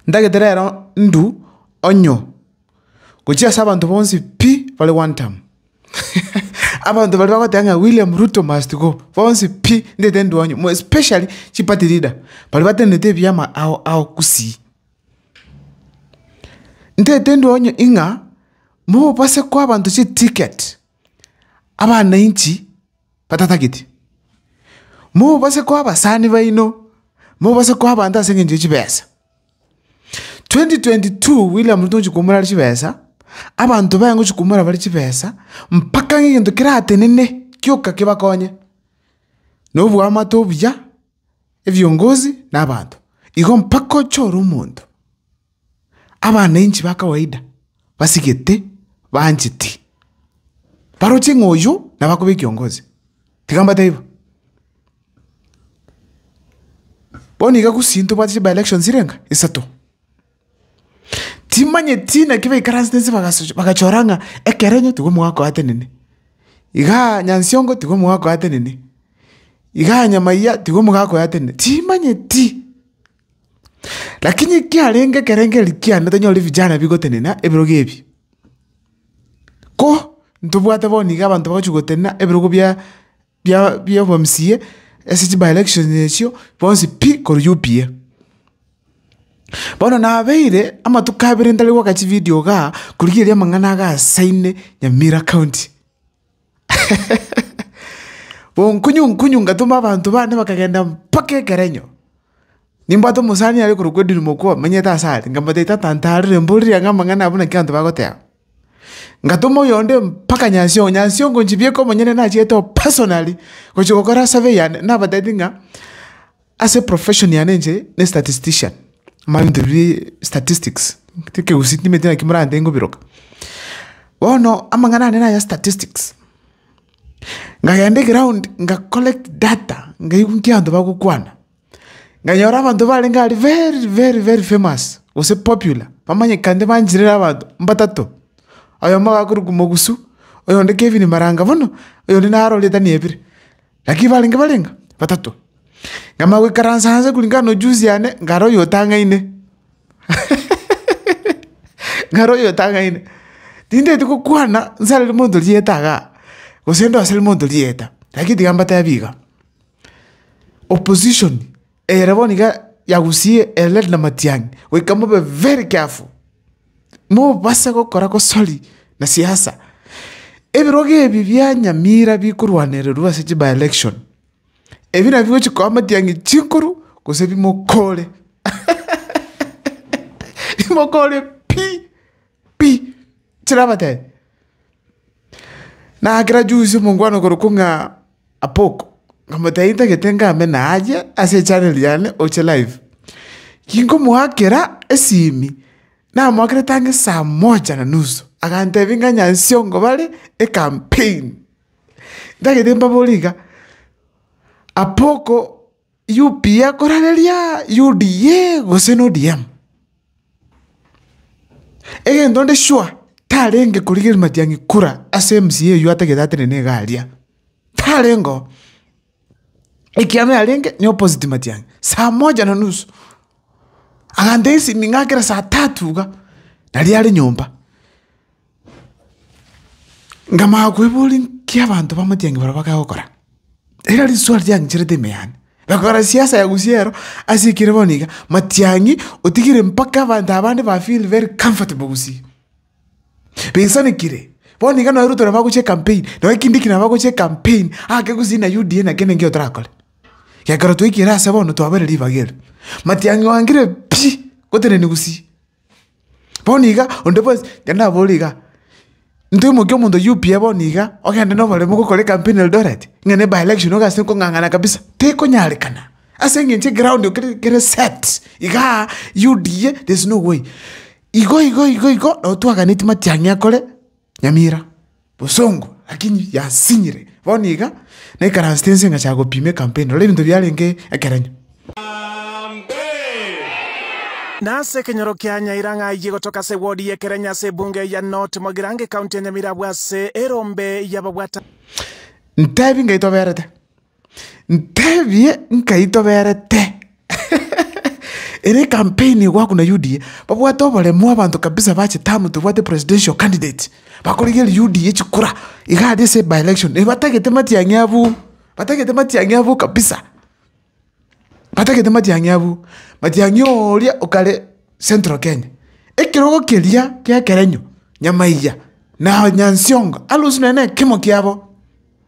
Ntagete rero ndu onyo, gochia ase abanto bonsi pi bare gwantama. Abanto baria bagoteba ng'a William Ruto must go, bonsi pi ntagete ndu onyo, more especially chiparty leader, baria batenenete ebiama ao ao gusii. Ntagete ndu onyo ing'a, mobasekwa abanto chiticket, abananchi. batatageti. Mobase koa abasani baino, mobase koa abanto ase engencho ye chibesa. 2022 William Ruto ngochia koumora are chibesa, abanto baye ngochia koumora bare chibesa, mpaka ng'a egento keratenene kioka kebakonye, na oboamate obuya, ebiongozi na abanto. Igo mpaka ochore omonto. Abananchi ba kawaida basigete bancheti baroche ng'a oyo nabo akoba ekiongozi, tiga mbatebi bo. Bono iga gusii ntobwate chiba election chire ng'a isato, timanyeti naki baikaransete nse bagasochora bagachora ng'a ekero enyo tiga omogaka oyo atenene, igaa Nyansiongo tiga omogaka oyo atenene, igaa Nyamaiya tiga omogaka oyo atenene, timanyeti. Lakini ekiarenge ekerengo erio kiane tanyore vijana bigotenena ebirogo ebi. Ko ntobwate bono iga abanto bagochi gotenena ebirogo bia bia bia obo mca ase chi by-elections echio bonsi pi korwa UPA. Bono nabeire amatuko abere ntare goaka chividio igaa korigia erio amang'ana agasaine Nyamira County. Bonkunyu nkunyu ngatoma abanto bane bakagenda mpaka ekerenyo. Nimbwate omosani are korokwa Edwin Mokua omenyete ase are, nkamotebia tata ntarire mborire ang'e amang'ana abwo naki abanto bagoteba. Ngatoma oyonde mpaka Nyasiongo, Nyasiongo nchibieka omonyene nachiete o personally, gochia gokora survey yane, nabatebi ng'a. Ase profession yane inche ne statistician, mambia ebinto biria statistics, ekegusii timanyeti naki morantee nkobiroka. Bono amang'ana ane naya statistics, nkagenda eground nka collect data nkaigwa nki abanto bagokwana, nkanyora abanto barenge aria very very very famous gose popular bamanyekanete banchire na abanto mbatato, oyomo agakorokwa mogusu, oyonde Kevin maranga bono, oyonde naro ritani ebire. Naki barenge barenga batato, nkamanya goikaransa anse koreng'ana nojusi yane, nkare oyotang'aine, nkare oyotang'aine. Tinteti gokwana nsareri monto rieta igaa, gose ndoseri monto rieta, lakini tiga mbatebi iga, opposition. Ere bono iga yagusie Eledi na Matiang'i goika mobe very careful, mobase gokora gosori na siasa. Ebirogo ebi bia Nyamira bikorwanererwa ase chi by election, ebi nabio bigochi koa Matiang'i chinkuru gose bimokore bimokore pi. pi! Tirabatebia. Nakera juzi omongwana okorokwa ng'a Apoko, nkamotebia intagete ngame naye ase echaneli yane oche live. Ginkomoakera esimi, namoakerete ang'e saa moja na nusu, agantebia ng'a Nyansiongo bare ecampaign. Ntagete mbabore iga, Apoko UPA korareria UDA gose no ODM. Egento nde sure tarenge korigereria Matiang'i kura ase MCA oyio atagete atenene iga aria. Tarengeo. Ekiagera yarenge ni opposite Matiang'i. Saa moja na nusu. Agantesia esimi ng'akera saa tatu iga. Naria are nyomba. Nkamanya koiboria nki abanto b'amatiang'i barabwo bakare gokora? Ere riswali riang'icherete ime yane. Bakora siasa ya gusiero ase ekere bono iga, matiang'i otigire mpaka abanto abande ba feel very comfortable gusii. Baisanekire, bono iga nonya Ruto nabo agochia ecampaign, nonya Kindiki nabo agochia ecampaign, ake gusii na UDA naki ningio torakore. Gekero twaikire ase bono twabere ribaga eri. Matiang'i oangire pi, gotenenia gusii. Bono iga onde bwensi ekero naboirie iga, ntoimokia omonto UPA bono iga, ogende na oboremu gokora ekampeni Eldoret, ng'a ne by election iga ase nkong'ang'ana kabisa, tekonyarekana, ase eng'encho eground kere kere set igaa, UDA there is no way. Igo igo igo igo, nabo twaganetie matiang'i akore Nyamira. bosongo, lakini yasinyire. Bono iga naikaransete inse ngachaka gopima ekampeni. Rora ebinto biarenge ekerenyo. Nase ekenyoro kia Nyaira ng'a ayie gotoka ase ewodi y'Ekerenyo ase ebunge ya North Mogirango ekaunti ya Nyamirambo ase erombe y'ababwatani. Ntebi ngai toberete. Ntebie nkai toberete ere ecampaign igo agwo na UDA, babwate oboremu abanto kabisa bache tamu tobwate presidential candidate, bakorigeria UDA chikura iga aria ase by election, batagete Matiang'i abwo, batagete Matiang'i abwo kabisa, batagete Matiang'i abwo, Matiang'i oria okare central Kenya, ekerogo keria ki'ekerenyo, Nyamaiga na Nyansiongo, arusie nonye na ekemo kiabo.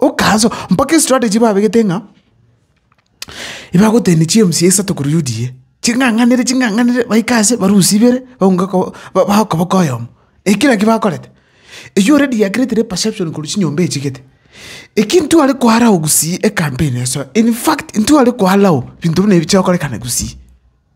Okansa mpaka estrategy babegete ng'a, ebagotebia chiemisi isato korwa UDA, ching'ang'anere ching'ang'anere baike ase barusie ibere baunge koba bago koba okoyomo. Eki kera eki bakorete, eywo already yakiretire eperception korwa chinyomba echigete. Eki intwe are ko allow gusii ecampaign esoe, infact intwe are ko allow binto buna ebi bikorekana gusii.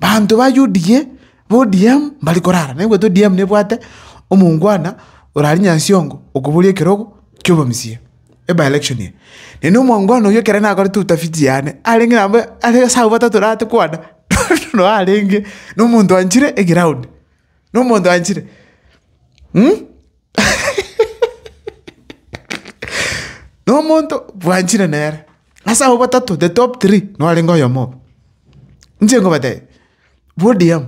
Banto ba UDA, ba ODM mbare korara, naigwete ODM nebwate omoungwana ore aria Nyasiongo okoboria ekerogo ki'obomisia, ebe election eye. Naende na omoungwana oyio ekero nakorete utafiti yane, arenge nabo are ase abwo batato orate kwana, noo arenge na omonto anchire eground, na omonto anchire na omonto bwanchire nere. Ase abwo batato the top three norenge oyomo obo. Inche nkobatebi ODM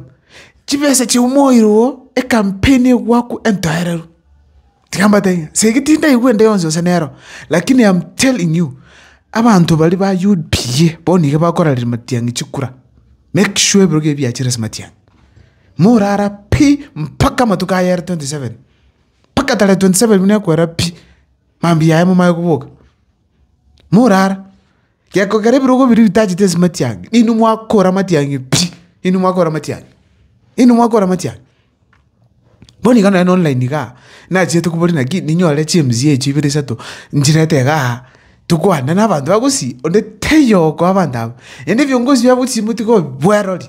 chibesa chiumoire oo ekampeni egwaku entoereru. Tiga mbatebi ng'a ase tindaigwa ende yonsi gose nero lakini am telling you abanto baria ba UDA bono iga bakoraria matiang'i chikura make sure ebirogo ebio biachire ase matiang'i. Morara pi mpaka amatuko aya are twenty seven mpaka tarehe twenty seven buna ekwera pi mambia yaye momae koboka. Morara, gekogera ebirogo biria bitachete ase matiang'i, inwe mwakora amatiang'i pi, inwe mwakora amatiang'i, inwe mwakora amatiang'i. Bono iga nonye na online igaa, nachiete kobori naki ninyore chimzii echio ibere isato, nchirete igaa, tokwane na abanto bagusii, onde taiyo okoa abanto aba, naende ebiongozi biabo gose motiga obibwerori.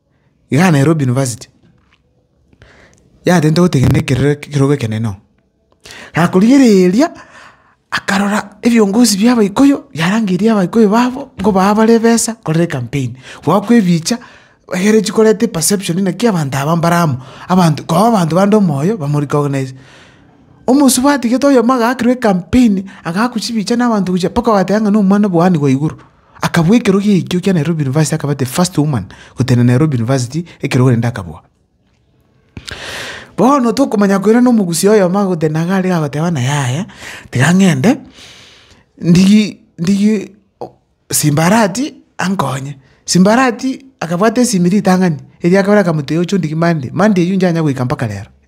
Iga Nairobi university, yatenta gotegenera ekerore ekerogo ekenene oo. Gakorigereria, akarora ebiongozi bia abaikoyo, biarangeria abaikoyo babo, nkobaa bare ebesa, korere ecampaign, goakwa ebicha, egere echi koreta eperception naki abanto aba mbare amo, abanto koo abanto bande omoyo, bamo recognise. Omosubati atigetwe oyomo agakirwa ecampaign, agakwa chibicha na abanto gochia mpaka ogateba ng'a na omwana bwani gwa igoro. Akabua ekerogo ekio kia Nairobi University akaba the first woman gotenena Nairobi University ekerogo rende akabua. Bono tokomanya koirana omogusi oyomo agotenena iga aria agoteba ng'a yaya tiga ng'ende ndigie ndigie simbarati ankonye. Simbarati akabwata esimiri ritang'ani erio akabora akamotebia oche ondigie Monday, Monday eyio inchanya goika mpaka rero.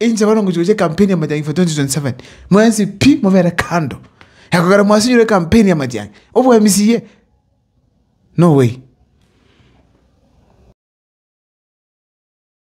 Inche bono ngochia gochia ecampaign ya majang'ani for 2027, mwensi pi mobere kando. Ekogera mwasinyore ecampaign ya majang'ani, obwa MCA? No way.